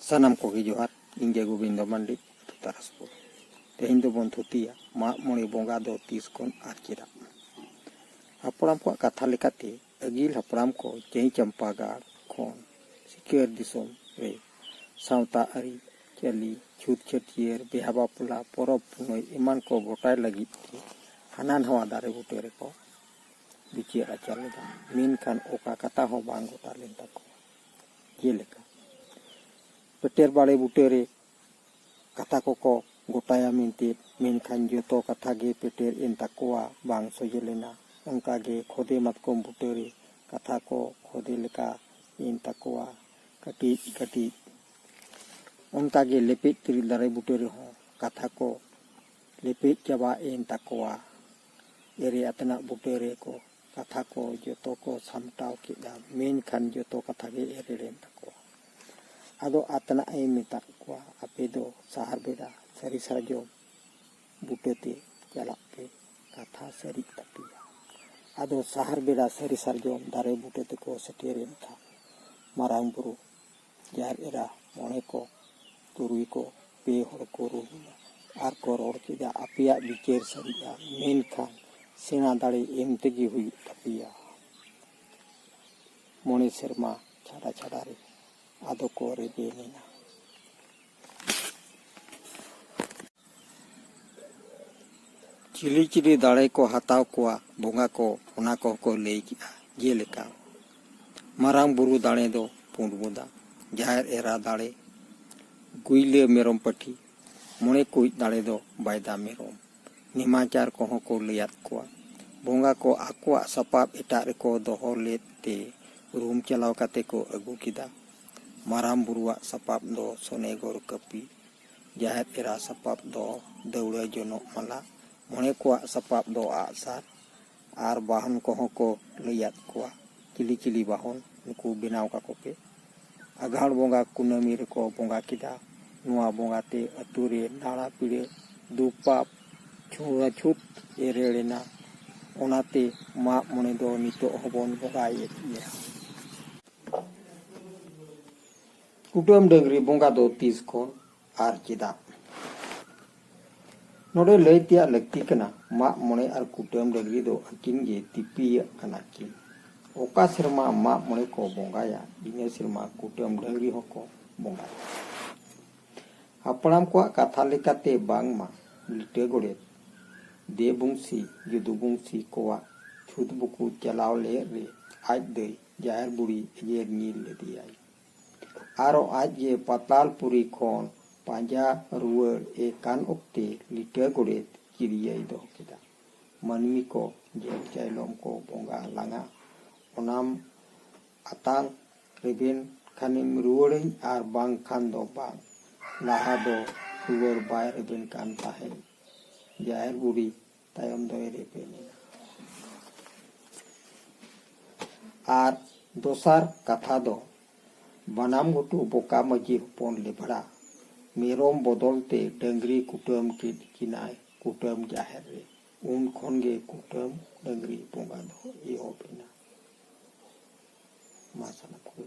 ᱥᱟᱱᱟᱢ ᱠᱚᱜᱮ ᱡᱚᱦᱟᱨ ᱤᱧ ᱜᱮ ᱜᱳᱵᱤᱱᱫᱚ ᱢᱟᱱᱰᱤ ᱟᱛᱳ ᱛᱟᱨᱟᱥᱯᱩᱨ ᱛᱮᱦᱮᱧ ᱫᱚᱵᱚᱱ ᱛᱷᱩᱛᱤᱭᱟ ᱢᱟᱜ ᱢᱚᱬᱮ ᱵᱚᱸᱜᱟ ᱫᱚ ᱛᱤᱥ ᱠᱷᱚᱱ ᱟᱨ ᱪᱮᱫᱟᱜ ᱦᱟᱯᱲᱟᱢ ᱠᱚᱣᱟᱜ ᱠᱟᱛᱷᱟ ᱞᱮᱠᱟᱛᱮ ᱟᱹᱜᱤᱞ ᱦᱟᱯᱲᱟᱢ ᱠᱚ ᱪᱟᱹᱦᱤ ᱪᱟᱢᱯᱟ ᱜᱟᱲ ᱠᱷᱚᱱ ᱥᱤᱠᱟᱹᱨ ᱫᱤᱥᱚᱢ ᱨᱮ ᱥᱟᱶᱛᱟ ᱟᱹᱨᱤ ᱪᱟᱹᱞᱤ ᱪᱷᱩᱛ ᱪᱷᱟᱹᱴᱭᱟᱹᱨ ᱵᱤᱦᱟ ᱵᱟᱯᱞᱟ ᱯᱚᱨᱚᱵᱽ ᱯᱩᱱᱟᱹᱭ ᱮᱢᱟᱱ ᱠᱚ ᱜᱚᱴᱟᱭ ᱞᱟᱹᱜᱤᱫ ᱛᱮ ᱦᱟᱱᱟ ᱱᱟᱣᱟ ᱫᱟᱨᱮ ᱵᱩᱴᱟᱹ ᱨᱮᱠᱚ ᱵᱤᱪᱟᱹᱨ ᱟᱪᱟᱨ ᱞᱮᱫᱟ ᱢᱮᱱᱠᱷᱟᱱ ᱚᱠᱟ ᱠᱟᱛᱷᱟ ᱦᱚᱸ ᱵᱟᱝ ᱜᱚᱴᱟ ᱞᱮᱱ ᱛᱟᱠᱚᱣᱟ ᱡᱮᱞᱮᱠᱟ ᱯᱮᱴᱮᱨ ᱵᱟᱲᱮ ᱵᱩᱴᱟᱹᱨᱮ ᱠᱟᱛᱷᱟ ᱠᱚᱠᱚ ᱜᱚᱴᱟᱭᱟ ᱢᱮᱱᱛᱮ ᱢᱮᱱᱠᱷᱟᱱ ᱡᱚᱛᱚ ᱠᱟᱛᱷᱟ ᱜᱮ ᱯᱮᱴᱮᱨ ᱮᱱ ᱛᱟᱠᱚᱣᱟ ᱵᱟᱝ ᱥᱚᱡᱷᱮ ᱞᱮᱱᱟ ᱚᱱᱠᱟ ᱜᱮ ᱠᱷᱚᱫᱮ ᱢᱟᱛᱠᱚᱢ ᱵᱩᱴᱟᱹᱨᱮ ᱠᱟᱛᱷᱟ ᱠᱚ ᱠᱷᱚᱫᱮ ᱞᱮᱠᱟ ᱮᱱ ᱛᱟᱠᱚᱣᱟ ᱠᱟᱹᱴᱤᱡ ᱠᱟᱹᱴᱤᱡ ᱚᱱᱠᱟ ᱜᱮ ᱞᱮᱯᱮᱡ ᱛᱤᱨᱤᱞ ᱫᱟᱨᱮ ᱵᱩᱴᱟᱹ ᱨᱮᱦᱚᱸ ᱠᱟᱛᱷᱟ ᱠᱚ ᱞᱮᱯᱮᱡ ᱪᱟᱵᱟ ᱮᱱ ᱛᱟᱠᱚᱣᱟ ᱮᱨᱮ ᱟᱛᱮᱱᱟᱜ ᱵᱩᱴᱟᱹ ᱨᱮᱠᱚ ᱠᱟᱛᱷᱟ ᱠᱚ ᱡᱚᱛᱚ ᱠᱚ ᱥᱟᱢᱴᱟᱣ ᱠᱮᱫᱟ ᱢᱮᱱᱠᱷᱟᱱ ᱡᱚᱛᱚ ᱠᱟᱛᱷᱟ ᱜᱮ ᱮᱨᱮᱲ ᱮᱱ ᱛᱟᱠᱚᱣᱟ ᱟᱫᱚ ᱟᱛᱱᱟᱜ ᱮ ᱢᱮᱛᱟᱫ ᱠᱚᱣᱟ ᱟᱯᱮ ᱫᱚ ᱥᱟᱦᱟᱨ ᱵᱮᱰᱟ ᱥᱟᱹᱨᱤ ᱥᱟᱨᱡᱚᱢ ᱵᱩᱴᱟᱹᱛᱮ ᱪᱟᱞᱟᱜ ᱯᱮ ᱠᱟᱛᱷᱟ ᱥᱟᱹᱨᱤᱜ ᱛᱟᱯᱮᱭᱟ ᱟᱫᱚ ᱥᱟᱦᱟᱨ ᱵᱮᱰᱟ ᱥᱟᱹᱨᱤ ᱥᱟᱨᱡᱚᱢ ᱫᱟᱨᱮ ᱵᱩᱴᱟᱹ ᱛᱮᱠᱚ ᱥᱮᱴᱮᱨᱮᱱ ᱠᱷᱟᱱ ᱢᱟᱨᱟᱝ ᱵᱩᱨᱩ ᱡᱟᱦᱮᱨ ᱮᱨᱟ ᱢᱚᱬᱮ ᱠᱚ ᱛᱩᱨᱩᱭ ᱠᱚ ᱯᱮ ᱦᱚᱲ ᱠᱚ ᱨᱩᱨᱩᱭᱟ ᱟᱨ ᱠᱚ ᱨᱚᱲ ᱠᱮᱫᱟ ᱟᱯᱮᱭᱟᱜ ᱵᱤᱪᱟᱹᱨ ᱥᱟᱹᱨᱤᱜᱼᱟ ᱢᱮᱱᱠᱷᱟᱱ ᱥᱮᱬᱟ ᱫᱟᱲᱮ ᱮᱢ ᱛᱮᱜᱮ ᱦᱩᱭᱩᱜ ᱛᱟᱯᱮᱭᱟ ᱢᱚᱬᱮ ᱥᱮᱨᱢᱟ ᱪᱷᱟᱰᱟ ᱪᱷᱟᱰᱟ ᱨᱮ ᱟᱫᱚ ᱠᱚ ᱨᱮᱵᱮᱱ ᱮᱱᱟ ᱪᱤᱞᱤ ᱪᱤᱞᱤ ᱫᱟᱲᱮ ᱠᱚ ᱦᱟᱛᱟᱣ ᱠᱚᱣᱟ ᱵᱚᱸᱜᱟ ᱠᱚ ᱚᱱᱟ ᱠᱚᱦᱚᱸ ᱠᱚ ᱞᱟᱹᱭ ᱠᱮᱫᱼᱟ ᱡᱮᱞᱮᱠᱟ ᱢᱟᱨᱟᱝ ᱵᱩᱨᱩ ᱫᱟᱲᱮ ᱫᱚ ᱯᱩᱸᱰ ᱵᱚᱫᱟ ᱡᱟᱦᱮᱨ ᱮᱨᱟ ᱫᱟᱲᱮ ᱜᱩᱭᱞᱟᱹ ᱢᱮᱨᱚᱢ ᱯᱟᱹᱴᱷᱤ ᱢᱚᱬᱮ ᱠᱩᱡ ᱫᱟᱲᱮ ᱫᱚ ᱵᱟᱭᱫᱟ ᱢᱮᱨᱚᱢ ᱱᱮᱢᱟᱪᱟᱨ ᱠᱚᱦᱚᱸ ᱠᱚ ᱞᱟᱹᱭᱟᱫ ᱠᱚᱣᱟ ᱵᱚᱸᱜᱟ ᱠᱚ ᱟᱠᱚᱣᱟᱜ ᱥᱟᱯᱟᱵ ᱮᱴᱟᱜ ᱨᱮᱠᱚ ᱫᱚᱦᱚ ᱞᱮᱫ ᱛᱮ ᱨᱩᱢ ᱪᱟᱞᱟᱣ ᱠᱟᱛᱮ ᱠᱚ ᱟᱹᱜᱩ ᱠᱮᱫᱟ ᱢᱟᱨᱟᱝ ᱵᱩᱨᱩᱣᱟᱜ ᱥᱟᱯᱟᱵ ᱫᱚ ᱥᱚᱱᱮᱜᱚᱨ ᱠᱟᱹᱯᱤ, ᱡᱟᱦᱮᱨ ᱮᱨᱟ ᱥᱟᱯᱟᱵ ᱫᱚ ᱫᱟᱹᱣᱲᱟᱹ ᱡᱚᱱᱚᱜ ᱢᱟᱞᱟ, ᱢᱚᱬᱮ ᱠᱚᱣᱟᱜ ᱥᱟᱯᱟᱵ ᱫᱚ ᱟᱜ ᱥᱟᱨ ᱟᱨ ᱵᱟᱦᱚᱱ ᱠᱚᱦᱚᱸ ᱠᱚ ᱞᱟᱹᱭ ᱟᱫ ᱠᱚᱣᱟ ᱪᱤᱞᱤ ᱪᱤᱞᱤ ᱵᱟᱦᱚᱱ ᱱᱩᱠᱩ ᱵᱮᱱᱟᱣ ᱠᱟᱠᱚ ᱯᱮ᱾ ᱟᱜᱷᱟᱬ ᱵᱚᱸᱜᱟ ᱠᱩᱱᱟᱹᱢᱤ ᱨᱮᱠᱚ ᱵᱚᱸᱜᱟ ᱠᱮᱫᱟ᱾ ᱱᱚᱣᱟ ᱵᱚᱸᱜᱟ ᱛᱮ ᱟᱹᱛᱩ ᱨᱮ ᱱᱟᱲᱟ ᱯᱤᱲᱟᱹ, ᱫᱩᱠ ᱯᱟᱯ ᱪᱷᱩᱸᱣᱟᱪᱷᱩᱛ ᱮᱨᱮᱲ ᱮᱱᱟ᱾ ᱚᱱᱟᱛᱮ ᱢᱟᱜ ᱢᱚᱬᱮ ᱫᱚ ᱱᱤᱛᱚᱜ ᱦᱚᱸᱵᱚᱱ ᱵᱚᱸᱜᱟᱭᱮᱫ ᱜᱮᱭᱟ᱾ ᱠᱩᱴᱟᱹᱢ ᱰᱟᱹᱝᱨᱤ ᱵᱚᱸᱜᱟ ᱫᱚ ᱛᱤᱥ ᱠᱷᱚᱱ ᱟᱨ ᱪᱮᱫᱟᱜ ᱱᱚᱰᱮ ᱞᱟᱹᱭ ᱛᱮᱭᱟᱜ ᱞᱟᱹᱠᱛᱤ ᱠᱟᱱᱟ ᱢᱟᱜ ᱢᱚᱬᱮ ᱟᱨ ᱠᱩᱴᱟᱹᱢ ᱰᱟᱹᱝᱨᱤ ᱫᱚ ᱟᱹᱠᱤᱱ ᱜᱮ ᱛᱤᱯᱤᱭᱟᱜ ᱠᱟᱱᱟ ᱠᱤᱱ ᱚᱠᱟ ᱥᱮᱨᱢᱟ ᱢᱟᱜ ᱢᱚᱬᱮ ᱠᱚ ᱵᱚᱸᱜᱟᱭᱟ ᱤᱱᱟᱹ ᱥᱮᱨᱢᱟ ᱠᱩᱴᱟᱹᱢ ᱰᱟᱹᱝᱨᱤ ᱦᱚᱸᱠᱚ ᱵᱚᱸᱜᱟᱭᱟ ᱦᱟᱯᱲᱟᱢ ᱠᱚᱣᱟᱜ ᱠᱟᱛᱷᱟ ᱞᱮᱠᱟᱛᱮ ᱵᱟᱝᱢᱟ ᱞᱤᱴᱟᱹ ᱜᱚᱰᱮᱛ ᱫᱮᱵᱩᱝᱥᱤ ᱡᱩᱫᱩᱵᱩᱝᱥᱤ ᱠᱚᱣᱟᱜ ᱪᱷᱩᱛ ᱵᱩᱠᱩ ᱪᱟᱞᱟᱣ ᱞᱮ ᱨᱮ ᱟᱡ ᱫᱟᱹᱭ ᱡᱟᱦᱮᱨ ᱵᱩᱲᱦᱤ ᱮᱜᱮᱨ ᱧᱤᱨ ᱞᱮᱫᱮᱭᱟᱭ᱾ ᱟᱨᱚ ᱟᱡ ᱜᱮ ᱯᱟᱛᱟᱞᱯᱩᱨᱤ ᱠᱷᱚᱱ ᱯᱟᱸᱡᱟ ᱨᱩᱣᱟᱹᱲ ᱮ ᱠᱟᱱ ᱚᱠᱛᱮ ᱞᱤᱴᱟᱹ ᱜᱚᱰᱮᱛ ᱠᱤᱨᱤᱭᱟᱹᱭ ᱫᱚᱦᱚ ᱠᱮᱫᱟ᱾ ᱢᱟᱹᱱᱢᱤ ᱠᱚ ᱡᱷᱮᱸᱴ ᱪᱟᱭᱞᱚᱢ ᱠᱚ ᱵᱚᱸᱜᱟ ᱞᱟᱝᱟ ᱚᱱᱟᱢ ᱟᱛᱟᱝ ᱨᱮᱵᱮᱱ ᱠᱷᱟᱱᱮᱢ ᱨᱩᱣᱟᱹᱲᱟᱹᱧ ᱟᱨ ᱵᱟᱝ ᱠᱷᱟᱱ ᱫᱚ ᱵᱟᱝ᱾ ᱞᱟᱦᱟ ᱫᱚ ᱨᱩᱣᱟᱹᱲ ᱵᱟᱭ ᱨᱮᱵᱮᱱ ᱠᱟᱱ ᱛᱟᱦᱮᱸᱫ᱾ ᱡᱟᱦᱮᱨ ᱵᱩᱲᱦᱤ ᱛᱟᱭᱚᱢ ᱫᱚ ᱮᱨ ᱤᱯᱤᱞ ᱮᱱᱟ ᱟᱨ ᱫᱚᱥᱟᱨ ᱠᱟᱛᱷᱟ ᱫᱚ ᱵᱟᱱᱟᱢ ᱜᱷᱩᱴᱩ ᱵᱚᱠᱟ ᱢᱟᱹᱡᱷᱤ ᱦᱚᱯᱚᱱ ᱞᱮᱵᱷᱲᱟ ᱢᱮᱨᱚᱢ ᱵᱚᱫᱚᱞ ᱛᱮ ᱰᱟᱹᱝᱨᱤ ᱠᱩᱴᱟᱹᱢ ᱠᱮᱫ ᱠᱤᱱᱟᱭ ᱠᱩᱴᱟᱹᱢ ᱡᱟᱦᱮᱨ ᱨᱮ ᱩᱱ ᱠᱷᱚᱱ ᱜᱮ ᱠᱩᱴᱟᱹᱢ ᱰᱟᱹᱝᱨᱤ ᱵᱚᱸᱜᱟ ᱫᱚ ᱮᱦᱚᱵ ᱮᱱᱟ ᱢᱟ ᱥᱟᱱᱟᱢ ᱠᱚᱜᱮ